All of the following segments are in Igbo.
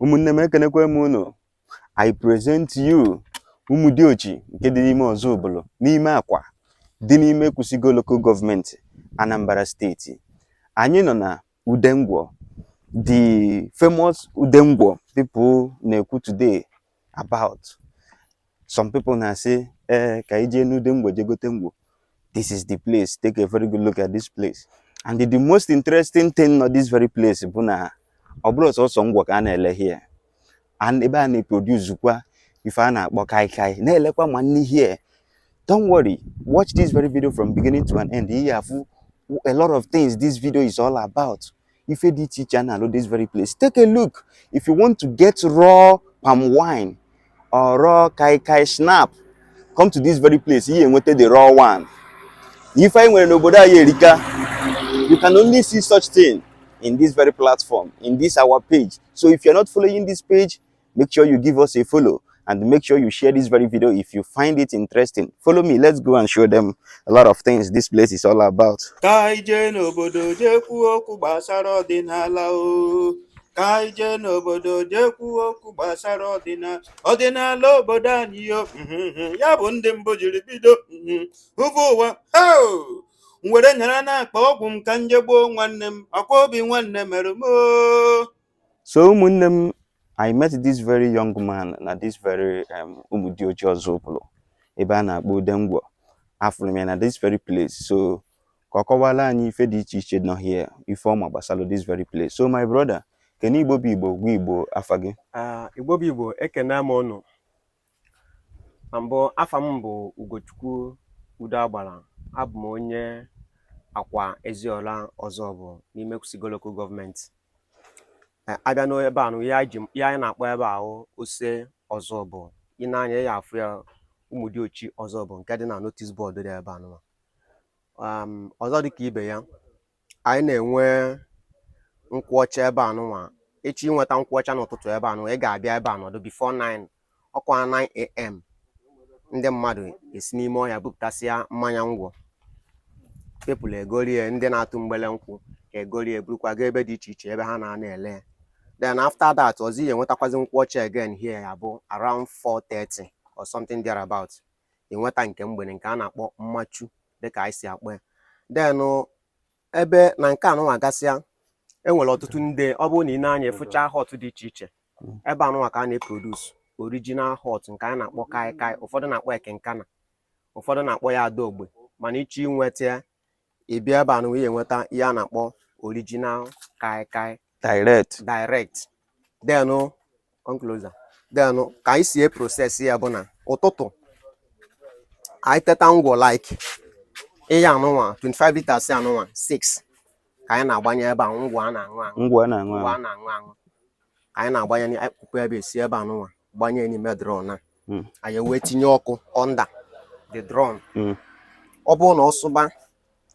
ụmụnne m ekenekwe m unu i present you umudiochi nke dị n'ime ozubulu n'ime akwa dị n'ime ekwusigo local government anambra state anyị nọ na udengwọ the famous udengwọ people na-ekwu today about some people na-asị ee eh, ka anyị jee n'udengwọ je gote ngwọ this is the place take a very good look at this place and the, the most interesting thing nọ this very place bụ na ọ bụrọ sọsọ ngwọ ka a na-ele here and ebe a na-eproduce kwa ife a na-akpọ kai kai na-elekwa ma nni here don't worry watch this very video from beginning to an end ị ya-afụ a lot of things this video is all about ife dị iche iche a na-alụ this very place take a look if you want to get raw palm wine or raw kai kai snap come to this very place ihe enweta the raw one ife anyị nwere n'obodo anyị erika you can only see such thing in this very platform in this our page so if you're not following this page make sure you give us a follow and make sure you share this very video if you find it interesting follow me let's go and show them a lot of things this place is all about ka anyị jee n'obodo jee kwuo okwu gbasara ọdịnala o ka anyị jee n'obodo jee kwuo okwu gbasara ọdịnala ọdịnala obodo anyị yo mhm, ya bụ ndị mbụ jiri bido mhm, hụba ụwa hoo! m were nyara n'akpa ọgwụ m ka m je gboo nwanne m akwa obi nwanne mere m oo. so ụmụnne m I met this very young man na this very um, Umudiochi Ozubulu ebe a na-akpọ Udengwo afụrụ m ya na this very place so ka ọ kọwara anyị ife dị iche iche nọ here ife ọma gbasara this very place so my brother kene Igbo bụ Igbo gwa Igbo afa gị ah, Igbo bụ Igbo ekene m ụnụ na mbụ afa m bụ ugochukwu udoagbara abụ m onye akwa eziola ozubu n'ime ekwusigo local government Eh, a bịa n'ebe a nụ ihe anyị ji- ihe anyị na-akpọ ebe ahụ ose ozubu i nee anya ị ya-afụ ya umudiochi ozubu nke dị na notice board dị ebe a nụwa ọzọ dị ka ibe ya anyị na-enwe nkwụọcha ebe a nụnwa ị chọọ inweta nkwụọcha n'ụtụtụ ebe a nụnwa ị ga-abịa ebe a nọdụ before 9 ọkwa 9am ndị mmadụ esi n'ime ọhịa bupụtasịa mmanya ngwọ people egorie ndị na-atụ mgbele nkwụ egorie burukwa gaa ebe dị iche iche ebe ha na-ana ele then after that ọzọ ị ya-enwetakwazi nkwụọcha again here ya bụ around 4:30 or something thereabout ị nweta nke mgbede nke a na-akpọ mmachu dịka anyị si akpọ ya then ebe na nke a nụnwa gasịa e nwere ọtụtụ ndị ọ bụrụ na i nee anya ị fụcha hot dị iche iche ebe anụnwa ka a na-eproduce original hot nke a na-akpọ kaikai ụfọdụ na-akpọ ya kinkana ụfọdụ na-akpọ ya adaogbe mana ị chọọ inweta ya ị bịa ebe anụnwa ị ya-enweta ihe a na-akpọ original kai kai direct direct then come closer then ka anyị si eprocess ya bụ na ụtụtụ anyị teta ngwọ like ihe anụnwa 25 liters anụnwa 6 ka anyị na-agbanye ebe a ngwọ a na-aṅụ aṅụ ngwọ a na-aṅụ aṅụ ka anyị na-agbanye akpụkpọ ebe e si ebe anụnwa gbanye n'ime drum na hmm. anyị wee tinye ọkụ under the drum hmm. ọ bụrụ na ọ sụba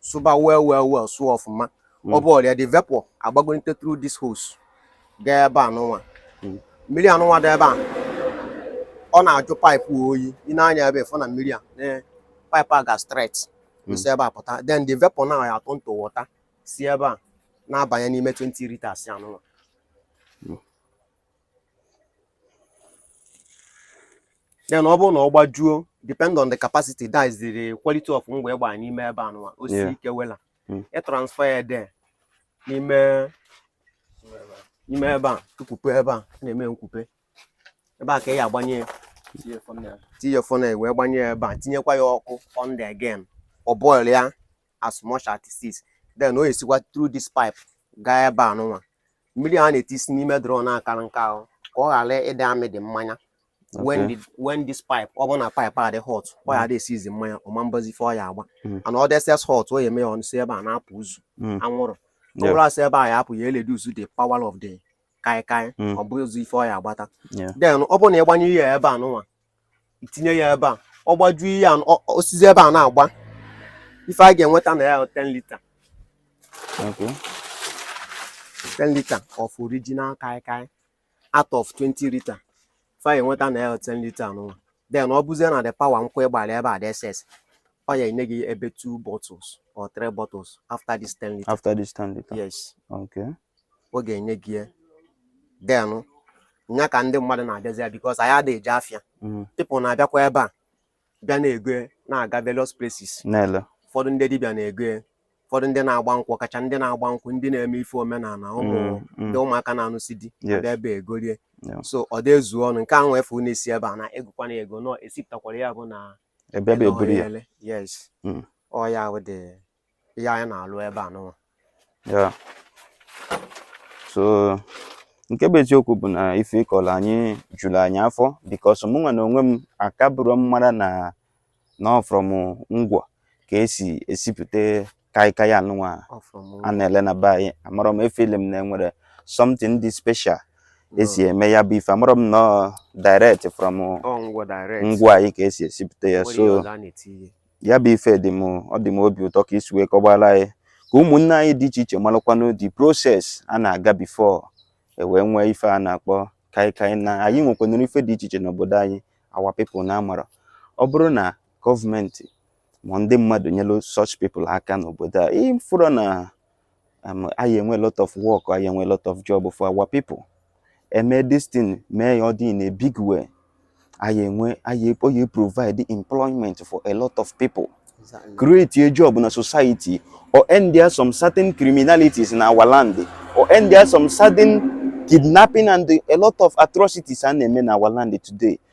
sụba well well well sụọ ọfụma ọ bụrụ the vapor agbagolite through this hose gaa ebe anụnwa mmiri anụnwa dị ebe a ọ na-ajụ pipe oyi i nee anya ebe a fụ na mmiri a pipe a ga straight hmm. si ebe a pụta then the vapor now ya turn to water si ebe a na-abanye n'ime 20 liters anụnwa then ọ bụrụ na ọ gbajuo depend on the capacity that is the quality of ngwọ ị gba n'ime ebe anụnwa o si Yeah. ike wela Mm. e transfer ya there n'ime n'ime ebe a tukwupe ebe a a na-eme nkwupe ebe a ka ị ya agbanye ya tinye funnel ya. tinye ya funnel wee gbanye ya ebe a tinyekwa ya ọkụ under again ọ boil ya as much as it is then o esikwa through this pipe gaa ebe anụnwa mmiri a na-etisi n'ime drum na-akara nke ahụ ka ọ ghara ịdị amị dị mmanya when Okay. the when this pipe ọ bụrụ na pipe a dị hot ọ ya dị esizi mmanya ọ ma-agbazi ife ọ ya agba Mm. and ọ dị excess hot ọ ya eme ya ọnụ si ebe a na-apụ uzu Mm. anwụrụ ọ Yeah. bụrụ a si ebe a ya apụ ya reduce the power of the kaikai Mm. ọ bụzi ife ọ ya agbata Yeah. then ọ bụrụ na ị gbanye ya ebe anụnwa i tinye ya ebe a ọ gbajuo ihe a ọ- ọ- o sizi ebe a na-agba ife a ga-enweta na ya bụ 10 liter Okay. 10 liter of original kai kai out of 20 liter ife a ga-enweta na ya bụ 10 liter anụnwa then ọ bụzie na the power nkwụ ị gbara ebe a dị excess ọ ya enye gị ebe two bottles or three bottles after this ten liter after this ten liter yes okay ọ ga-enye gị ya then nya ka ndị mmadụ na-abịazi ya because anyị adịghị eje afịa mm. people na-abịakwa ebe a bịa na-ego ya na-aga various places na-ele ụfọdụ ndị dibịa na-ego ya ụfọdụ ndị na-agba nkwụ kacha ndị na-agba nkwụ ndị na-eme ife omenala ụmụ Mm, mm. ndị ụmụaka na-anụsi di Yes. abịa ebe a egorie Yeah. so ọ dị ezu ọnụ nke ahụ efu na-esi ebe a na egokwana ya ego na esipụtakwara ya bụ na abịa ebe a eburu ya yes hmm. ọ ya bụ ife anyị na-alụ ebe anụnwa ya so nke bụ eziokwu bụ na ife ị kọrọ anyị juru anyị afọ because mụ nwa na onwe m akabụrọ m mara na na ọ from ngwọ ka e si esipụta kai kai anụnwa a na-ele na be anyị amarọ m efeel m na e nwere something dị special e si eme ya bụ ife amarọ m na ọ direct from ngwọ anyị ka e si esipụta ya so ya bụ ife dị m ọ dị m obi ụtọ ka i si wee kọbara anyị ka ụmụnne anyị dị iche iche malụkwanụ the process a na-aga before e wee nwee ife a na-akpọ kaikai na anyị nwekwanụrụ ife dị iche iche n'obodo anyị our people na amarọ ọ bụrụ na government ma ndị mmadụ nyelu such people aka n'obodo a ị fụrụ na um, anyị enwe lot of work anyị enwe lot of job for our people eme this thing mee ya ọ dị in a big way anyị enwe anyị oyi provide employment for a lot of people create a job na society ọ endia some certain criminalities na our land ọ endia some certain kidnapping and a lot of atrocities a na-eme na our land today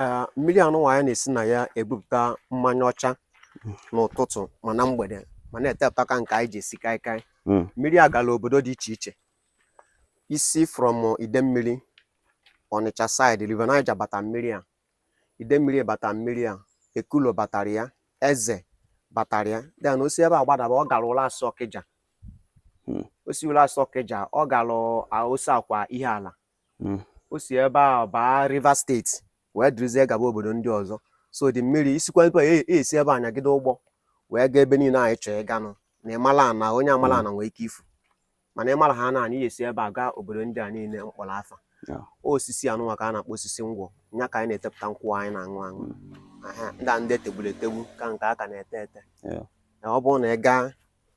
Ee, mmiri anụnwa anyị na-esi na ya ebupụta mmanya ọcha n'ụtụtụ ma na mgbede ma na-etepụta ka nke anyị ji esi kaikai Mm. mmiri a gara obodo dị iche iche i si from Idemmiri Ọnịcha side River Niger bata mmiri a Idemmiri bata mmiri a Ekulo batara ya Eze batara ya then o si ebe a gbadaba ọ gara Ụlasị Ọkịja Mm. o si Ụlasị Ọkịja ọ gara Oseakwa Ihiala hmm. o si ebe a baa Rivers steeti wee dịrịzie gaba obodo ndị ọzọ so the mmiri isikwa ebe a e, e esi ebe a nyagide ụgbọ wee gaa ebe niile anyị chọọ ịganụ na ị mala ana onye amalọ ana nwee ike ifu mana ị mara ana anyị esi ebe a gaa obodo ndị a niile m kpọrọ afa osisi anụnwa ka a na-akpọ osisi ngwọ nya ka anyị na-etepụta nkwụ anyị na-aṅụ aṅụ hmm. ndị a ndị e tegburu etegbu ka nke a ka na-ete ete ọ bụrụ na ị gaa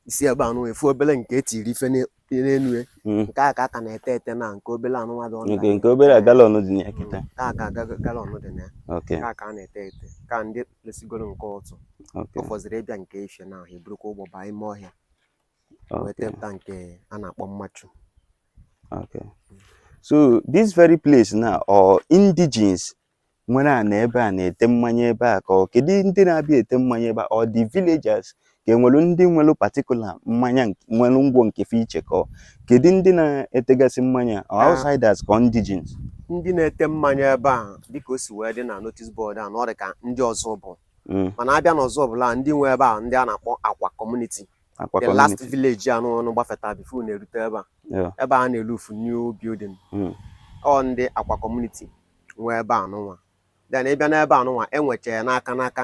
isi ebe anụnwa ị fụ obere nke e tiri ife n'elu ya hmm. nke a ka a ka na-ete ete na nke obere anụnwa dị ọnụ nke obere galọn dị na ya kịta hmm. ka aka galọn dị na ya ka a ka na-ete ete ka ndị lesigoro nke ụtụ ọ fọziri ịbịa nke ifie na ahụ eburukwa ụgbọ baa ime ọhịa wee tepụta nke a na-akpọ mmachu so this very place now ọ indigenes nwere ana ebe a na-ete mmanya ebe a ka ọ kedu ndị na-abịa ete mmanya ebe a ọ the villagers ka e nwere ndị nwere particular mmanya nwere ngwọ nke fe iche ka ọ kedu ndị na-etegasị mmanya ọ ah. outsiders ka indigenes ndị na-ete mmanya ebe a dịka o si wee dị na notice board a na ọ dị ka ndị Ozubulu hmm. mana a bịa n'Ozubulu ndị nwe ebe a ndị a na-akpọ Akwa community the last village anụ ụnụ gbafeta before na-erute ebe a ebe a na-elu ufu new building hmm. ọ ndị Akwa community nwe ebe anụnwa then ị bịa n'ebe anụnwa enwecha ya n'aka n'aka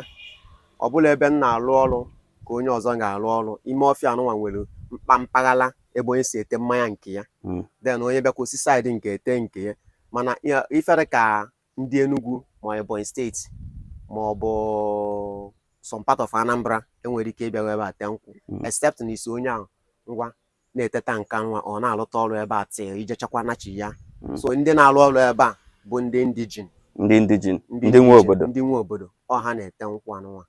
ọ bụlọ ebe m na-alụ ọrụ ka onye ọzọ ga-alụ ọrụ ime ọfịa anụnwa nwere mkpa mpaghara ebe onye si ete mmanya nke ya hmm. then onye bịakwa o si side nke ya ete nke ya mana ife dị ka ndị Enugu ma Ebonyi steeti ma ọ bụ some part of Anambra enwerọ ike ịbịa ebe a tee nkwụ hmm. except na ị sị onye ahụ ngwa na-eteta nka nwa ọ na-alụta ọrụ ebe a till i jechakwa nachi ya hmm. so ndị na-alụ ọrụ ebe a bụ ndị indigene ndị indigene ndị nwe obodo ndị nwe obodo ọ ha na-ete nkwụ anụnwa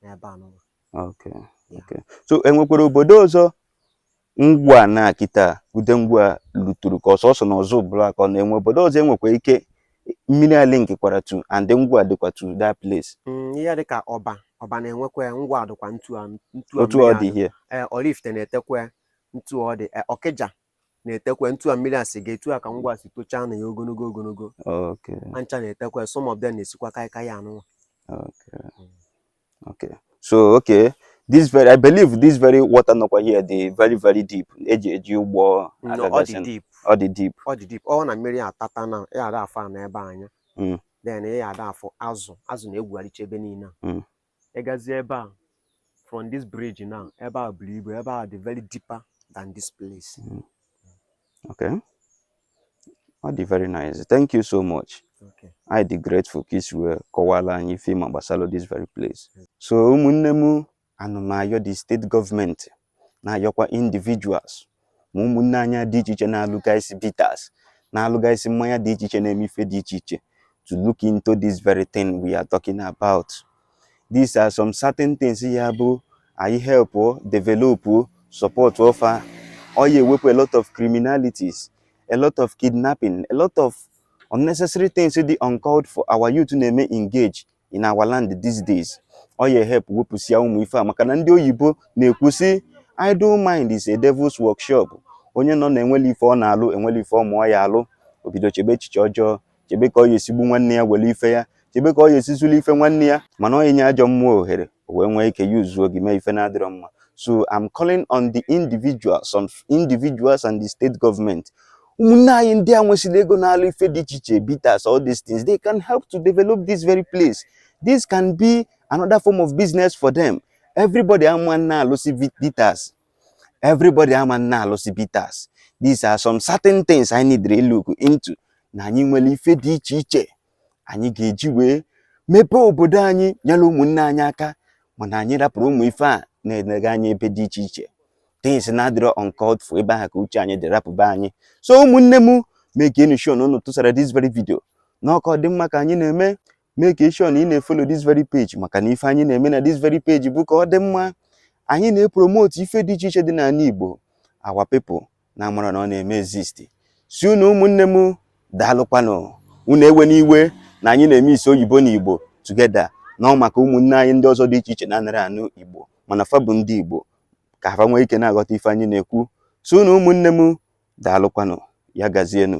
n'ebe anụnwa okay okay so enwekwara obodo ọzọ ngwọ na kịta ude ngwọ a luturu ka ọ sọsọ na Ozubulu ka ọ na-enwe obodo ọzọ enwekwa ike mmiri a linkkwara tu and ngwọ dịkwa to that place mm, ihe dịka Ọba Ọba na-enwekwa ngwọ dịkwa ntu ntu otu ọ dị here eh, Oraifite na-etekwa ntu ọ dị eh, Ọkịja na-etekwa ntu a mmiri a si ga etu a ka ngwọ si tochaa na ya ogologo ogologo ha ncha na-etekwa some of them na-esikwa kaikai a nụnwa okay so okay this very i believe this very water nọkwa here dị very very deep eji eji ụgbọ No, ọ dị agagasị deep ọ dị deep ọ dị deep ọ na mmiri atata na ya ada afụ ana ebe anya Mm. then ị ya ada afụ azụ azụ na-egwugharịcha ebe niile a. Mm. ị gazie ebe a from this bridge now ebe a buru ibu ebe a dị very deeper than this place Mm. Okay. Ọ dị very nice. Thank you so much. Okay. Anyị dị grateful ka i si wee kọwaara anyị ife ị ma gbasara this very place. So ụmụnne m ana m ayọ the state government na-ayọkwa individuals ma ụmụnne anyị dị iche iche na-alụgasị bitters na-alụgasị mmanya dị iche iche na-eme ife dị iche iche to look into this very thing we are talking about. these are some certain things ya-abụ anyị help develop support fa ọ ya-ewepụ a lot of criminalities a lot of kidnapping a lot of unnecessary things dị uncalled for our youth na-eme engage in our land these days ọ ya-ehelp wepụsịa ụmụ ife a maka na ndị oyibo na-ekwu sị idle mind is a devil's workshop onye nọ na-enwerọ ife ọ na-alụ enwerọ ife ọ ma ọ ya-alụ o bido chebe echiche ọjọọ chebe ka ọ ya-esi gbuo nwanne ya were ife ya chebe ka ọ ya-esi zulu ife nwanne ya mana ọ ị nye ajọ mmụọ ohere o wee nwee ike yuzuo gị mee ife na-adịrọ mma so I'm calling on the individuals some individuals and the state government ụmụnne anyị ndị a nwesịrị ego na-alụ ife dị iche iche bitters all these things they can help to develop this very place this can be another form of business for them everybody ama na-alụsị bitters everybody ama na-alụsị bitters these are some certain things anyị need to look into na anyị nwere ife dị iche iche anyị ga-eji wee mepee obodo anyị nyere ụmụnne anyị aka mana anyị rapụrụ ụmụ ife a na-elega anya ebe dị iche iche things na-adịrọ uncalled for ebe ahụ ka uche anyị dị rapụba anyị so ụmụnne m makenụ sure na unu tụsara this very video na ọ ka ọ dị mma ka anyị na-eme make sure na ị na-efollow this very page maka na ife anyị na-eme na this very page bụ ka ọ dị mma anyị na-epromote ife dị iche iche dị n'ala Igbo our people na-amarọ na ọ na-eme exist sị unu ụmụnne m daalụkwanụ unu ewena iwe na anyị na-emix oyibo na Igbo together na ọ maka ụmụnne anyị ndị ọzọ dị iche iche na-anarọ anụ Igbo mana fa bụ ndị Igbo ka ha nwee ike na-aghọta ife anyị na-ekwu sị unu ụmụnne m daalụkwanụ ya gazienụ